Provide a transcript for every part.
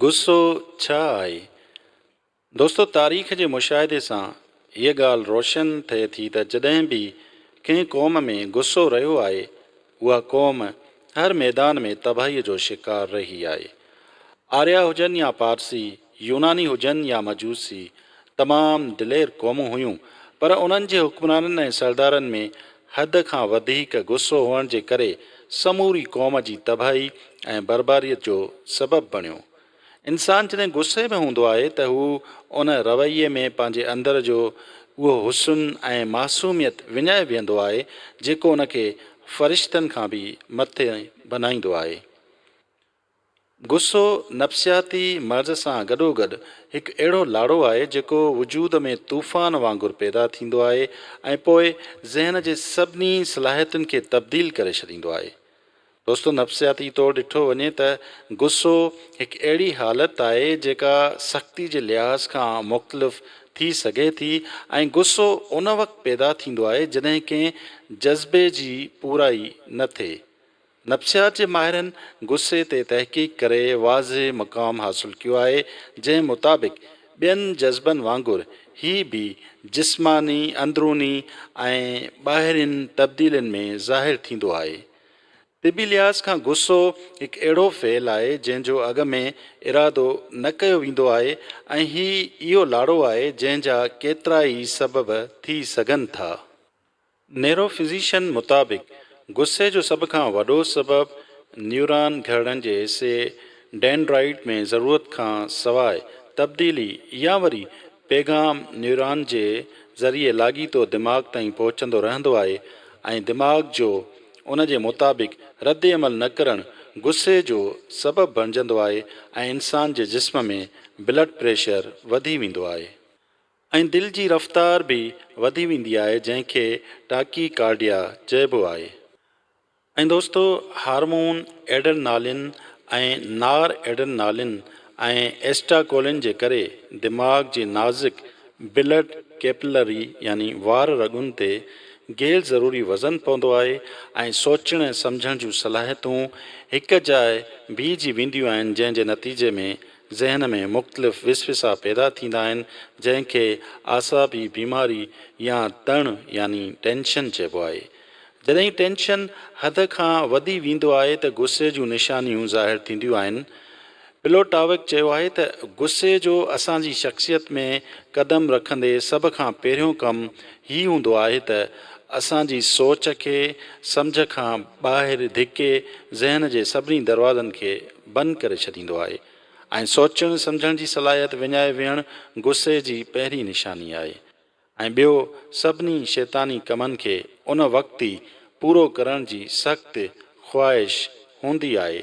غصو ڇا آهي؟ دوستو تاريخ جي مشاهدي سان هيء ڳالهه روشن ٿئي ٿي ته جڏهن به ڪنهن قوم ۾ غصو رهيو آهي اها قوم هر ميدان ۾ تباهيء جو شڪار رهي آهي. آريا هجن يا پارسي، يوناني هجن يا مجوسي، تمام دلير قومون هيون پر انهن جي حڪمرانن ۽ سردارن ۾ حد کان وڌيڪ غصو هئڻ جي ڪري سموري قوم جي تباهي ۽ برباريت جو سبب بڻيو. انسان جڏهن غصي ۾ هوندو آهي ته هو ان رويي ۾ پنهنجي اندر جو اهو حسن ۽ معصوميت وڃائي ويهندو آهي جيڪو ان کي فرشتن کان به مٿي بنائيندو آهي. غصو نفسياتي مرض سان گڏوگڏ هڪ اهڙو لاڙو آهي جيڪو وجود ۾ طوفان وانگر پيدا ٿيندو آهي ۽ پوء ذهن جي سڀني صلاحيتن کي تبديل ڪري ڇڏيندو آهي. دوستو نفسياتي طور ڏٺو وڃي ته غصو هڪ اهڙي حالت آهي جيڪا سختي جي لحاظ کان مختلف ٿي سگهي ٿي ۽ غصو ان وقت پيدا ٿيندو آهي جڏهن ڪنهن جذبي جي پورائي نه ٿئي نفسيات جي ماهرن غصي تي تحقيق ڪري واضح مقام حاصل ڪيو آهي، جنهن مطابق ٻين جذبن وانگر هي به جسماني، اندروني ۽ ٻاهرين تبديلين ۾ ظاهر ٿيندو آهي. طبي لحاظ کان غصو هڪ اهڙو فعل آهي، جنهن جو اڳ ۾ ارادو نه ڪيو ويندو آهي ۽ هي اهو لاڙو آهي، جنهن جا ڪيترائي سبب ٿي سگهن ٿا. نيوروفزيشن مطابق غصي جو سڀ کان وڏو سبب نيوران گهرڙن جي حصي ڊينڊرائيٽ ۾ ضرورت کان سواء تبديلي يا وري پيغام نيوران جي ذريعي لاڳيتو دماغ تائين پهچندو رهندو آهي ۽ دماغ جو ان جي مطابق رد عمل نه ڪرڻ غصي جو سبب بڻجندو آهي ۽ انسان جي جسم ۾ بلڊ پريشر وڌي ويندو آهي. ۽ دل جي رفتار به وڌي ويندي آهي جنهن کي ٽاڪي ڪارڊيا چئبو آهي ۽ دوستو هارمون ايڊرنالين ۽ نار ايڊرنالين ۽ ايسٽاڪولين جي ڪري دماغ جي نازڪ بلڊ ڪيپلري يعني وار رڳن تي غير ضروري وزن پوندو آهي ۽ سوچڻ ۽ سمجهڻ جون صلاحيتون هڪ جاء بيهجي وينديون آهن جنهن جي نتيجي ۾ ذهن ۾ مختلف وسوسا پيدا ٿيندا آهن جنهن کي اعصابي بيماري يا تڻ يعني ٽينشن چئبو آهي. جڏهن ٽينشن حد کان وڌي ويندو آهي ته غصي جون نشانيون ظاهر ٿينديون آهن. پلوٽاوڪ چيو آهي ته غصي جو اسان جي شخصيت ۾ قدم رکندي سڀ کان پهريون ڪم هي هوندو آهي ته اسان جي سوچ کي سمجهه کان ٻاهر ڌڪي ذهن جي سڀني دروازن کي بند ڪري ڇڏيندو آهي ۽ سوچڻ سمجهڻ جي صلاحيت وڃائي ويهڻ غصي جي پهرين نشاني آهي ۽ ٻيو سڀني شيطاني ڪمن کي ان وقت ئي پورو ڪرڻ جي سخت خواهش هوندي آهي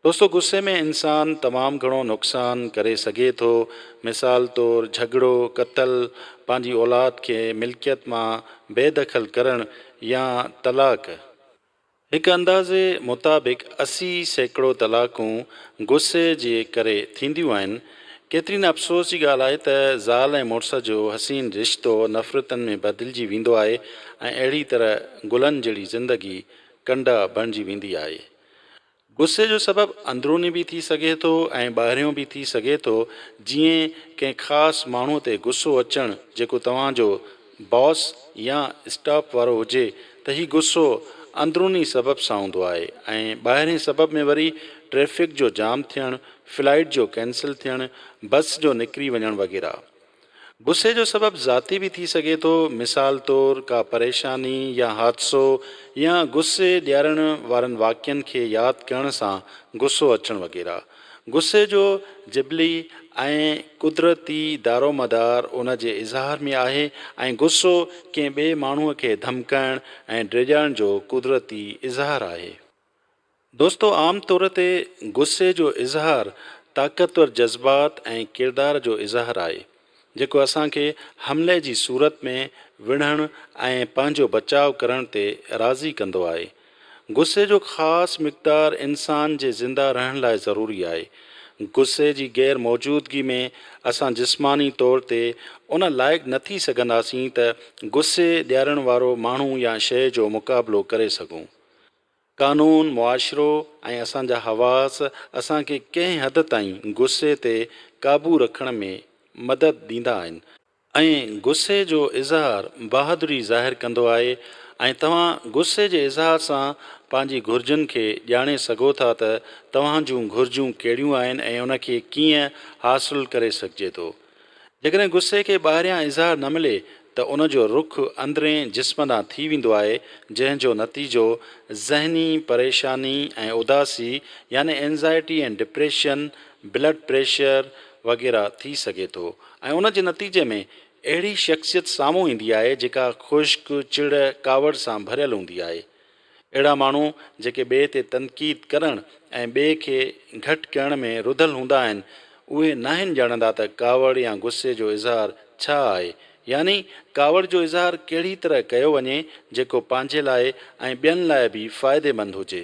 دوستو غصي ۾ انسان تمام گهڻو نقصان ڪري سگهي ٿو مثال طور جهڳڙو قتل پنهنجي اولاد کي ملڪيت مان بي دخل ڪرڻ يا طلاق هڪ اندازي مطابق اسي سيڪڙو طلاقون غصي جي ڪري ٿينديون آهن. ڪيتري نه افسوس جي ڳالهه آهي ته زال ۽ مڙس جو حسين رشتو نفرتن ۾ بدلجي ويندو آهي ۽ اهڙي طرح گلن جهڙي زندگي ڪنڊا بڻجي ويندي آهي. غصي جو سبب اندروني به ٿي سگهي ٿو ۽ ٻاهريون به ٿي سگهي ٿو، جيئن ڪنهن خاص ماڻهو تي غصو اچڻ جيڪو توهان جو باس يا اسٽاف وارو هجي ته هي غصو اندروني سبب سان هوندو آهي ۽ ٻاهرين سبب ۾ وري ٽريفڪ جو جام ٿيڻ، فلائيٽ جو ڪينسل ٿيڻ، بس جو نڪري وڃڻ وغيره. غصي جو سبب ذاتي به ٿي سگهي ٿو، مثال طور ڪا پريشاني يا حادثو يا غصي ڏيارڻ وارن واقعن کي ياد ڪرڻ سان غصو اچڻ وغيره. غصي جو جبلي ۽ قدرتي دارومدار ان جي اظهار ۾ آهي ۽ غصو ڪنهن ٻئي ماڻهوء کي ڌمڪائڻ ۽ ڊيڄارڻ جو قدرتي اظهار آهي. دوستو عام طور تي غصي جو اظهار طاقتور جذبات ۽ ڪردار جو اظهار آهي جيڪو اسان کي حملي جي صورت ۾ وڙهڻ ۽ پنهنجو بچاء ڪرڻ تي راضي ڪندو آهي. غصي جو خاص مقدار انسان جي زنده رهڻ لاء ضروري آهي. غصي جي غير موجودگي ۾ اسان جسماني طور تي ان لائق نه ٿي سگهنداسين ته غصي ڏيارڻ وارو ماڻهو يا شيء جو مقابلو ڪري سگهون. قانون، معاشرو ۽ اسان جا حواس اسان کي ڪنهن حد تائين غصي تي قابو رکڻ ۾ مدد ڏيندا آهن ۽ غصي جو اظهار بهادري ظاهر ڪندو آهي ۽ توهان غصي جي اظهار سان پنهنجي گهرجن کي ڄاڻي سگهو ٿا ته توهان جون گهرجون ڪهڙيون آهن ۽ ان کي ڪيئن حاصل ڪري سگهجي ٿو. جيڪڏهن غصي کي ٻاهريان اظهار نه ملي ته ان جو رخ اندرين جسم ڏانهن ٿي ويندو آهي، جنهن جو نتيجو ذهني پريشاني ۽ اداسي يعني Anxiety and Depression، blood pressure وغيره ٿي سگهي ٿو ۽ ان جي نتيجي ۾ اهڙي شخصيت سامهون ايندي آهي جيڪا خشڪ، چڙ، ڪاوڙ سان ڀريل هوندي آهي. اهڙا ماڻهو جيڪي ٻئي تي تنقيد ڪرڻ ۽ ٻئي کي گهٽ ڪيڻ ۾ رڌل هوندا آهن، اهي ناهن ڄاڻندا ته ڪاوڙ يا غصي جو اظهار ڇا آهي، يعني ڪاوڙ جو اظهار ڪهڙي طرح ڪيو وڃي جيڪو پنهنجي لاء ۽ ٻين لاء به فائديمند هجي.